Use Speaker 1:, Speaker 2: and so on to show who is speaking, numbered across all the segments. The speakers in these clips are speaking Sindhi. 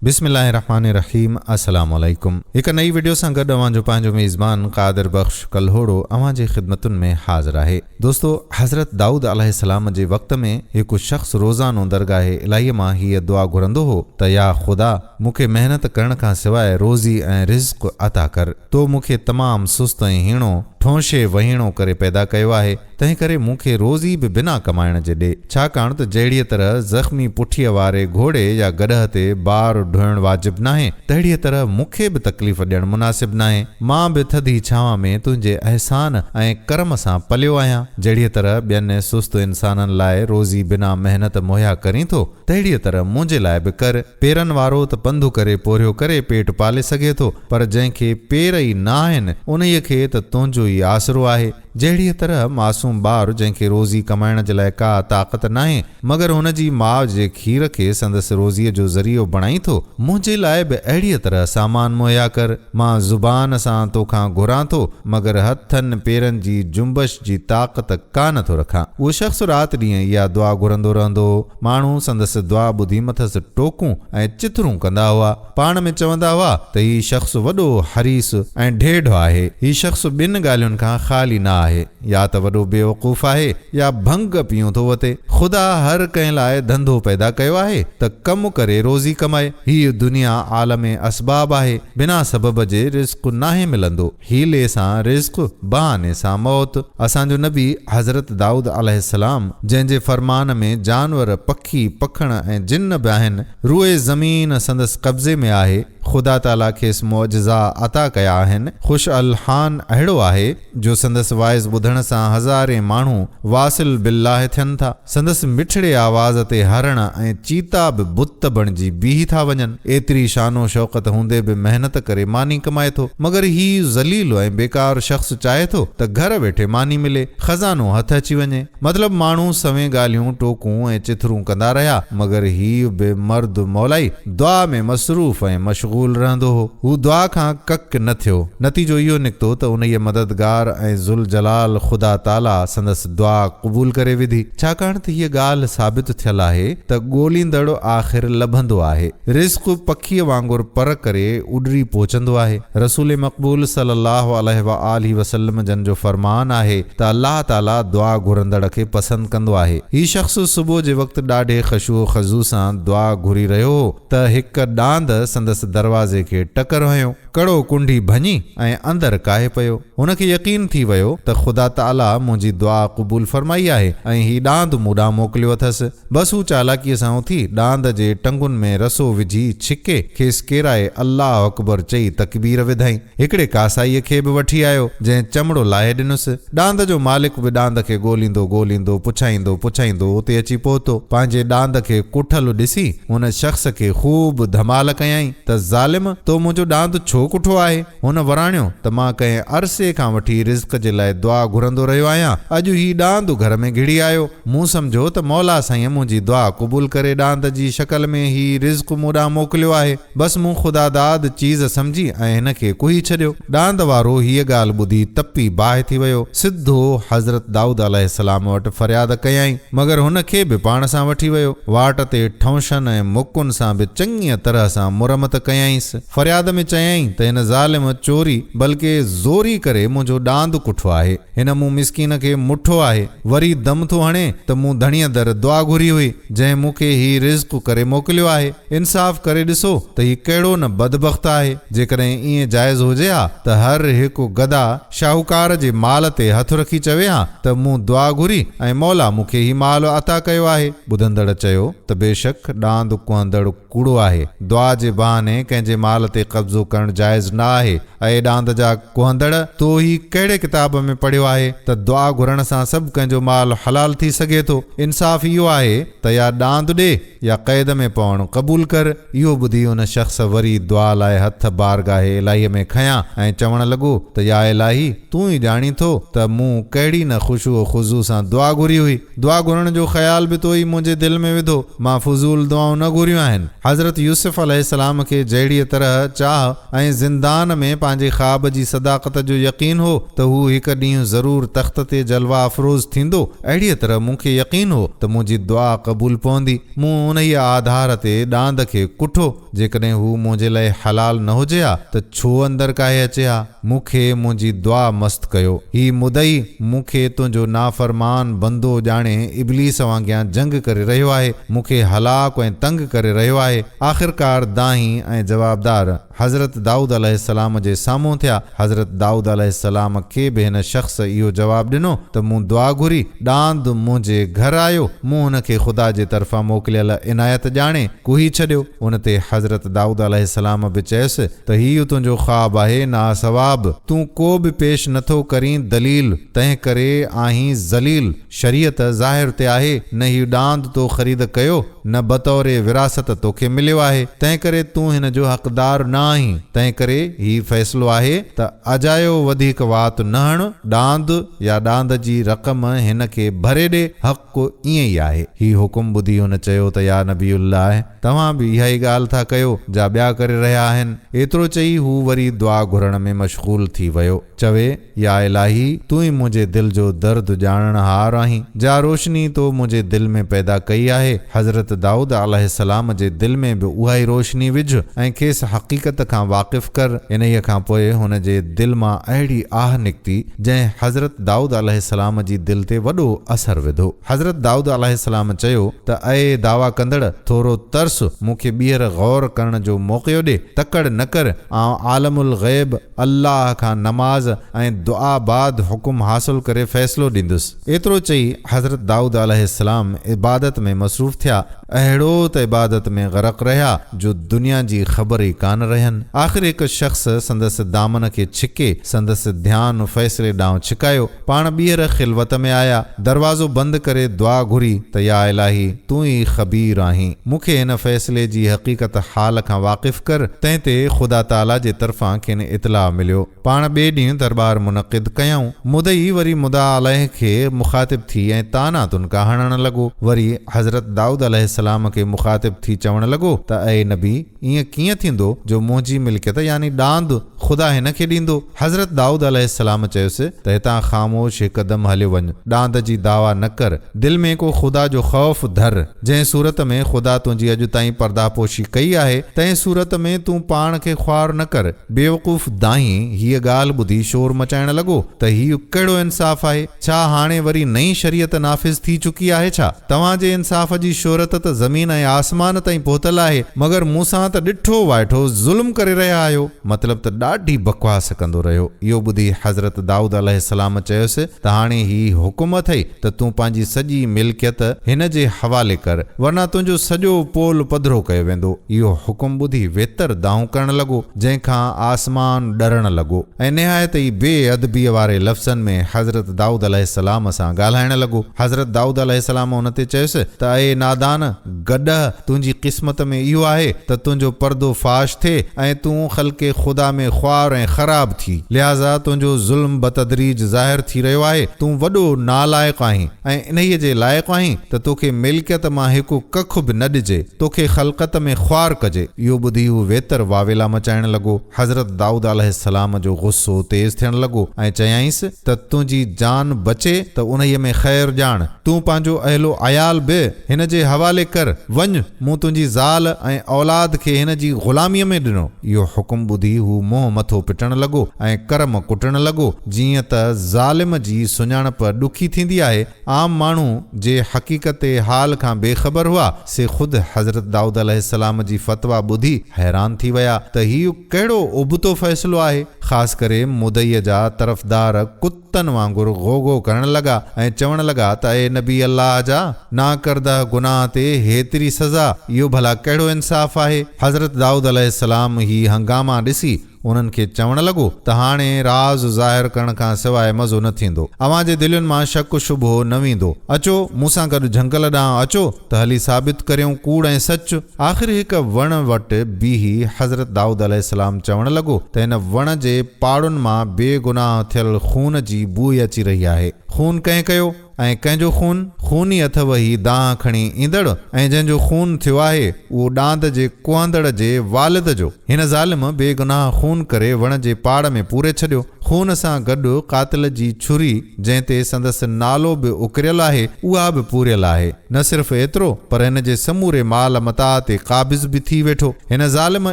Speaker 1: بسم الله الرحمٰن الرحيم السلام عليڪم هڪ نئي وڊيو سان گڏ اوهان جو پنهنجو ميزبان قادر بخش ڪلهوڙو اوهان جي خدمتن ۾ حاضر آهي دوستو حضرت دائود عليه السلام جي وقت ۾ هڪ شخص روزانو درگاهه الاهي مان هيء دعا گهرندو هو ته يا خدا مون کي محنت ڪرڻ کان سواء روزي ۽ رزق عطا ڪر تو مون کي تمام سست ۽ هيڻو ٺونشي وهيڻو ڪري پيدا ڪيو آهي تنهنڪري مون کي روزي به بنا ڪمائڻ جي ڏي، ڇاڪاڻ ته جهڙيء طرح زخمي پٺيء واري گهوڙي يا گڏهه تي بار ڍوئڻ واجب ناهي، تهڙيء طرح مون کي به تڪليف ڏيڻ مناسب ناهي. مان به ٿڌي ڇانو ۾ تنهنجي احسان ۽ ڪرم سان پليو آهيان. جهڙيء طرح ٻين سست انسانن لاء روزي بنا محنت مهيا ڪرين ٿو، تهڙيء طرح منهنجي لاء به ڪر. پيرن وارو ته پنڌ ڪري پورهيو ڪري پيٽ پالي سگهي ٿو، پر جنهن کي پير ئي ناهن، انهيء کي ته تنهنجو ئي آسرو آهي. جهڙيء طرح معصوم ٻار جنهن کي روزي ڪمائڻ جي لاء ڪا طاقت ناهي مگر هن جي ماء جي کير کي سندس روزيء جو ذريعو بڻائين ٿو، منهنجي لاء به اهڙيء طرح سامان مهيا ڪر، مان زبان سان تو کان گهران ٿو مگر هٿن پيرن جي جنبش جي طاقت ڪا نه ٿو رکان. اهو شخص رات ڏينهن اها دعا گهرندو رهندو هو. ماڻهو سندس دعا ٻڌي مٿس ٽوڪون ۽ چٿرون ڪندا هئا. پاڻ ۾ چوندا هئا ته هي شخص وڏو حريص ۽ ڍيڍ آهي. هي شخص ٻن ڳالهين کان خالي نه آهي، يا ته وڏو بيوقوف آهي يا ڀنگ پيئون ٿو وتي. خدا هر ڪنهن لاء ڌنڌو پيدا ڪيو آهي ته ڪم ڪري روزي ڪمائي. هيء دنيا عالم اسباب آهي، بنا سبب جي رزق ناهي ملندو. حيلي سان رزق، بهاني سان موت. اسان جو نبي حضرت دائود عليه السلام جنهن جي فرمان ۾ جانور، پکي، پکڻ ۽ جن به آهن، روئي زمين سندس قبضي ۾ آهي، خدا تعاليٰ کيس معجزا عطا ڪيا آهن، خوش الحان اهڙو آهي، جو سندس واعظ ٻڌڻ سان هزارين ماڻهو واصل بالله ٿين ٿا. سندس مٺڙي آواز تي هرڻ ۽ چيتا به بت بڻجي بيهي ٿا وڃن. ايتري شان و شوڪت هوندي به محنت ڪري ماني ڪمائي ٿو. مگر هي ذليل ۽ بيڪار شخص چاهي ٿو ته گهر ويٺي ماني ملي، خزانو هٿ اچي وڃي. مطلب ماڻهو سوين ڳالهيون، ٽوڪون ۽ چٿرون ڪندا رهيا، مگر هي بي مرد مولائي دعا ۾ مصروف ۽ مشغول رهندو هو. هو دعا کان ڪک نه ٿيو. نتيجو اهو نڪتو ته انهيء مددگار ۽ ذوالجلال خدا تعاليٰ سندس دعا قبول ڪري وڌي، ڇاڪاڻ ته هيء ڳالهه ثابت ٿيل آهي ته ڳوليندڙ آخر لڀندو آهي. رزق پکيء وانگر پر ڪري اڏري پهچندو آهي. رسول مقبول صلّي اللّٰه عليه واٰله وسلّم جن جو فرمان آهي ته الله تعاليٰ دعا گهرندڙ کي پسند ڪندو آهي. هي شخص صبح جي وقت ڏاڍي خشوع و خضوع سان دعا گهري رهيو هو ته هڪ ڏاند سندس دروازي کي ٽڪر هنيو. ڪڙو ڪنڍي ڀڃي ۽ اندر ڪاهي پيو. هن کي يقين ٿي ويو ته خدا تعاليٰ منهنجي دعا قبول فرمائي آهي ۽ هي ڏاند مون ڏانهن موڪليو اٿس. بس هو چالاڪيء سان اٿي ڏاند جي ٽنگن ۾ رسو وجهي ڇڪي کيس ڪيرائي الله اڪبر چئي تڪبير وڌائين. هڪڙي ڪاسائيء کي به وٺي آيو، جنهن چمڙو لاهي ڏنس. ڏاند جو مالڪ به ڏاند کي ڳوليندو ڳوليندو پڇائيندو پڇائيندو اتي اچي پهتو. پنهنجي ڏاند کي ڪٺل ڏسي هن شخص کي خوب ڌمال ڪيائين ته ظالم! تو منهنجو ڏاند ڇو ڪٺو آهي؟ هن وراڻيو ته مان ڪنهن عرصي کان وٺي رزق جي لاء دعا گهرندو رهيو آهيان، اڄ هي ڏاند گهر ۾ گهڙي آيو، مون سمجهيو ته مولا سائين منهنجي دعا قبول ڪري ڏاند جي شڪل ۾ هي رزق مون ڏانهن موڪليو آهي، بس مون خداداد چيز سمجهي ۽ هن کي ڪهي ڇڏيو، ڏاند وارو هيء ڳالهه ٻڌي تپي باهه ٿي ويو، سڌو حضرت دائود عليه السلام وٽ فرياد ڪيائين، مگر هن کي به پاڻ سان وٺي ويو، واٽ تي ٺونشن ۽ مڪن سان به چڱيء طرح سان مرمت ڪيائينس. فرياد ۾ چيائين ته هن ظالم چوري بلڪ زوري ڪري منهنجو ڏاند ڪٺو آهي. هن مون مسڪين کي مٺو آهي. وري دم ٿو هڻي ته مون ڌڻيء در دعا گهري هئي، جنهن مون کي هي رزق ڪري موڪليو آهي. انصاف ڪري ڏسو ته هي ڪهڙو نه بدبخت آهي. جيڪڏهن ائين جائز هجي ها ته هر هڪ گدا شاهوڪار جي مال تي هٿ رکي چوي ها ته مون دعا گهري ۽ مولا مون کي هي مال عطا ڪيو آهي. ٻڌندڙ چيو ته بيشڪ ڏاند ڪهندڙ. ڪوڙو آهي. دعا جي بهاني ڪنهن جي مال تي قبضو ڪرڻ جائز نه آهي. اي ڏاند جا ڪهندڙ! تو هي ڪهڙي ڪتاب ۾ پڙهيو آهي ته دعا گهرڻ سان سڀ ڪنهن جو مال حلال ٿي سگهي ٿو؟ انصاف اهو آهي ته يا ڏاند ڏي يا قيد ۾ پوڻ قبول ڪر. اهو ٻڌي ان شخص وري دعا لاء هٿ بارگاهه الاهيء ۾ کنيا ۽ چوڻ لڳو ته يا الاهي! تون ئي ڄاڻين ٿو ته مون ڪهڙي نه خشوع و خضوع سان دعا گهري هئي. دعا گهرڻ جو خيال به تو ئي منهنجي دل ۾ وڌو، مان فضول دعائون نه گهريون آهن. حضرت يوسف عليه السلام کي جهڙيء طرح چاهه ۽ زندان ۾ پنهنجي خواب جي صداقت جو يقين هو ته هو هڪ ڏينهن ضرور تخت تي جلوه افروز ٿيندو، اهڙيء طرح مون کي يقين هو ته منهنجي دعا قبول پوندي. مون انهيء آڌار تي ڏاند کي ڪٺو. جيڪڏهن هو منهنجي لاء حلال نه هجي ها ته ڇو اندر ڪاهي اچي ها؟ مون کي منهنجي دعا مست ڪيو. هي مدعي مون کي تنهنجو نافرمان بندو ڄاڻي ابليس وانگيان جنگ ڪري رهيو آهي، مون کي هلاڪ ۽ تنگ ڪري رهيو آهي. آخرڪار دانهين ۽ جوابدار حضرت دائود عليه السلام جي سامهون ٿيا. حضرت دائود عليه السلام کي به هن شخص اهو جواب ڏنو ته مون دعا گهري، ڏاند منهنجي گهر آيو، مون هن کي خدا جي طرفان موڪليل عنايت ڄاڻي، ڪوهي ڇڏيو، ان تي حضرت دائود عليه السلام به چيس ته هيء تنهنجو خواب آهي ناصواب، تون ڪو به پيش نه ٿو ڪرين دليل، تنهن ڪري آهين ذليل، شريعت ظاهر تي آهي، نه هي ڏاند تو خريد ڪيو، نه بطور وراثت توکي مليو آهي، تنهن ڪري تون هن جو حقدار نه آهين، تنهن ڪري هي فيصلو آهي ته اجايو وڌيڪ وات نه هڻ، ڏاند يا ڏاند جي رقم هن کي ڀري ڏي، حق. حق ائين ئي آهي. هي حڪم ٻڌي هن چيو ته يا نبي الله! توهان به اها ئي ڳالهه ٿا ڪيو، جا ٻيا ڪري رهيا آهن. ايترو چئي هو وري دعا گهرڻ ۾ مشغول ٿي ويو. چوي، يا الاهي! تون ئي منهنجي دل جو درد ڄاڻڻهار آهين. جا روشني تو منهنجي دل ۾ پيدا ڪئي آهي، حضرت دائود عليه السلام جي دل ۾ به اها ئي روشني وجهه ۽ کيس حقيقت کان واقف ڪر. انهيء کان پوء هن جي دل مان اهڙي آهه نڪتي، جنهن حضرت دائود عليه السلام جي دل تي وڏو اثر وڌو. حضرت دائود عليه السلام چيو ته اي دعويٰ ڪندڙ! ٿورو ترس، مون کي ٻيهر غور ڪرڻ جو موقعو ڏي، تڪڙ نه ڪر، آئون عالم الغيب الله کان نماز ۽ دعا بعد حڪم حاصل ڪري فيصلو ڏيندس. ايترو چئي حضرت دائود عليه السلام عبادت ۾ مصروف ٿيا. اهڙو ته عبادت ۾ غرق رهيا جو دنيا جي خبر ئي ڪانه رهين. آخر هڪ شخص سندس دامن کي ڇڪي سندس ڌيان فيصلي ڏانهن ڇڪايو. پاڻ ٻيهر خلوت ۾ آيا. دروازو بند ڪري دعا گهري ته يا الاهي! تون ئي خبير آهين. مون کي هن فيصلي جي حقيقت حال کان واقف ڪر. تنهن تي خدا تعاليٰ جي طرفان کين اطلاع مليو. پاڻ ٻئي ڏينهن درٻار منعقد ڪيائون. مدعي وري مدعا عليه کي مخاطب ٿي ۽ طعنا تنڪا هڻڻ لڳو. وري حضرت دائود عليه السلام کي مخاطب ٿي چوڻ لڳو ته اي نبي! ائين ڪيئن ٿيندو جو منهنجي ملڪيت يعني ڏاند خدا هن کي ڏيندو؟ حضرت دائود عليه السلام چيس ته هتان خاموش هڪ دم هليو وڃ. ڏاند جي دعويٰ نه ڪر. دل ۾ ڪو خدا جو خوف ڌر. جنهن صورت ۾ خدا تنهنجي اڄ تائين پرداهپوشي ڪئي آهي، تنهن صورت ۾ تون پاڻ کي خوار نه ڪر. بيوقوف دانهين هيء ڳالهه ٻڌي شور مچائڻ لڳو ته هيء ڪهڙو انصاف آهي؟ ڇا هاڻي وري نئين شريعت نافذ ٿي چڪي آهي ڇا؟ توهان جي انصاف جي شهرت ته زمين ۽ آسمان تائين پهتل آهي، مگر مون سان ته ڏٺو وائٺو ظلم ڪري رهيا آهيو. مطلب ته ڏاڍي بڪواس ڪندو رهيو. اهو ٻڌي حضرت دائود عليه السلام چيس ته هاڻي هي حڪم اٿئي ته تون پنهنجي سڄي ملڪيت هن جي حوالي ڪر، ورنه تنهنجو سڄو پول پڌرو ڪيو ويندو. اهو حڪم ٻڌي ويتر دانهون ڪرڻ لڳو، جنهن کان آسمان ڏرڻ لڳو ۽ نهايت ئي بي ادبيء واري لفظن ۾ حضرت دائود عليه السلام سان ڳالهائڻ لڳو. حضرت دائود عليه السلام ان تي چيس ته اي نادان! گڏهه! تنهنجي قسمت ۾ اهو آهي ته تنهنجو پردو فاش ٿئي ۽ تون خلق خدا ۾ خوار ۽ خراب ٿي. لهٰذا تنهنجو ظلم بتدريج ظاهر ٿي رهيو آهي. تون وڏو نالائق آهين ۽ انهيء جي لائق آهين ته توکي ملڪيت مان هڪ ڪک به نه ڏجي. توکي خلقت ۾ خوار ڪجي. اهو ٻڌي هو ويتر واويلا مچائڻ لڳو. حضرت دائود عليه السلام جو غصو تيز ٿيڻ لڳو ۽ چيائينس ته تنهنجي جان بچي ته انهيء ۾ خير ڄاڻ. تون پنهنجو اهل و عيال به هن جي حوالي ڪر. وڃ، مون تنهنجي زال ۽ اولاد کي هن جي غلاميء ۾ ڏنو. اهو حڪم ٻڌي هو منهن مٿو پٽڻ لڳو ۽ ڪرم ڪٽڻ لڳو، جيئن ته ظالم جي سڃاڻپ ڏکي ٿيندي آهي، عام ماڻهو جي حقيقت حال کان بي خبر هئا، سي خود حضرت دائود عليه السلام جي فتويٰ ٻڌي حيران ٿي ويا ته هيء ڪهڙو ابتو فيصلو آهي. خاص ڪري مدعيء جا طرفدار ڪتن وانگر غو غو ڪرڻ لڳا ۽ چوڻ لڳا ته اي نبي الله جا! ناڪردهه گناهه تي هيتري سزا، اهو ڀلا ڪهڙو انصاف آهي؟ حضرت دائود عليه السلام هي هنگاما ڏسي، انهن کي چوڻ لڳو ته هاڻي راز ظاهر ڪرڻ کان سواء مزو نه ٿيندو. اوهان جي دلين مان شڪ و شبهو نه ويندو. اچو، مون سان گڏ جهنگل ڏانهن اچو ته هلي ثابت ڪريون ڪوڙ ۽ سچ. آخر هڪ وڻ وٽ بيهي حضرت دائود عليه السلام چوڻ لڳو ته هن وڻ جي پاڙن مان بي گناهه ٿيل خون جي بوء اچي رهي آهي. خون ڪنهن ڪيو؟ ۽ ڪنهن جو خون؟ خون ئي اٿئو هي دانهن کڻي ايندڙ ۽ جنهن جو خون ٿيو آهي اهو ڏاند جي ڪوهندڙ جي والد جو. هن ظالم بي گناهه خون ڪري وڻ جي پاڙ ۾ پوري ڇڏيو. خون سان گڏ قاتل جي ڇري جنهن تي سندس نالو به اڪريل آهي اها به پوريل آهي. نه صرف ايترو پر هن جي سموري مال متاع تي قابض به ٿي ويٺو. هن ظالم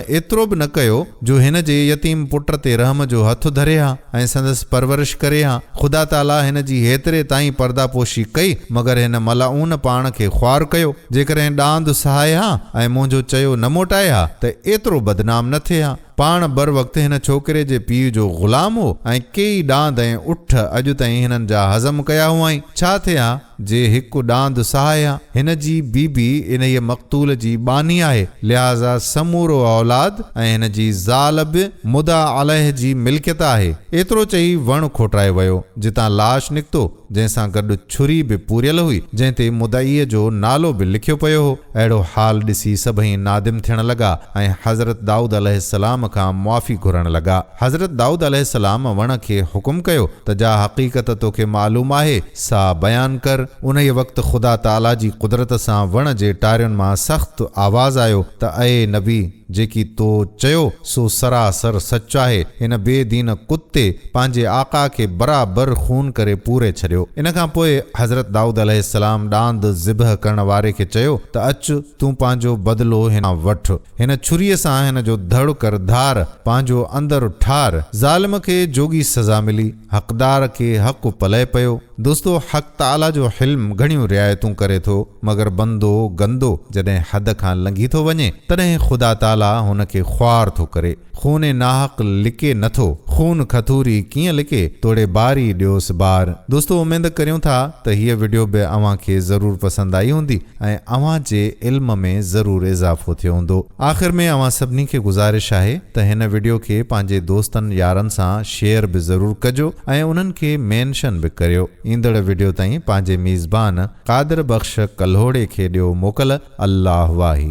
Speaker 1: ايترو به نه ڪيو. جو هن جي يتيم پٽ تي رحم جو هٿ ڌري ها ۽ سندس پرورش ڪري ها، خدا تعاليٰ هن جي هيتري تائين پرداپوشي ڪئي، مگر هن ملعون پاڻ کي خوار ڪيو، جيڪڏهن ڏاند سهائي ها ۽ منهنجو چيو نه موٽائي ها ته ايترو بدنام نه ٿئي ها، پاڻ بروقت هن ڇوڪري جي پيء جو غلام هو ۽ ڪيئي ڏاند ۽ اٺ اڄ تائين هنن جا هضم ڪيا هئائين، ڇا ٿئي ها؟ جي هڪ ڏاند سهايا. هن جي بي بي انهيء مقتول جي ٻانهي آهي، لهٰذا سمورو اولاد ۽ هن جي زال به مدعا عليه جي ملڪيت آهي. ايترو چئي وڻ کوٽرائي ويو، جتان لاش نڪتو، جنهن سان گڏ ڇري به پوريل هئي، جنهن تي مدعيء جو نالو به لکيو پيو هو. اهڙو حال ڏسي سڀئي نادم ٿيڻ لڳا ۽ حضرت دائود عليه السلام کان معافي گهرڻ لڳا. حضرت دائود عليه السلام وڻ کي حڪم ڪيو ته جا حقيقت توکي معلوم آهي سا بيان ڪر. انهيء وقت خدا تعاليٰ جي قدرت سان وڻ جي ٽارين مان سخت آواز آيو ته اي نبي! جيڪي تو چيو سو سراسر سچ آهي. هن بي دين ڪتي پنهنجي آقا کي برابر خون ڪري پوري ڇڏيو. ان کان پوء حضرت دائود عليه السلام ڏاند ذبح ڪرڻ واري کي چيو ته اچ تون پنهنجو بدلو هن کان وٺ. هن ڇري سان هن جو ڌڙ ڪر ڌار، پنهنجو اندر ٺار. ظالم کي جوڳي سزا ملي. حقدار کي حق پلئه پيو. دوستو حق تعاليٰ جو حلم گهڻيون رعايتون ڪري ٿو مگر بندو، گندو، جڏهن حد کان لنگهي ٿو وڃي تڏهن خدا تعاليٰ هن کي خوار ٿو ڪري. خون ناحق لڪي نه ٿو. خون کٿوري ڪيئن لڪي توڙي باري ڏيوس بار. دوستو اميد ڪريون ٿا ته هيء وڊيو به اوهان کي ضرور پسند آئي هوندي. ۽ اوهان جي علم ۾ ضرور اضافو ٿيو هوندو. آخر ۾ اوهان سڀني کي گذارش آهي ته هن وڊيو کي پنهنجي دوستن يارن سان شيئر به ضرور ڪجو ۽ انهن کي مينشن به ڪريو. ايندڙ وڊيو تائين پنهنجي ميزبان قادر بخش ڪلهوڙي کي ڏيو موڪل. الله واهي.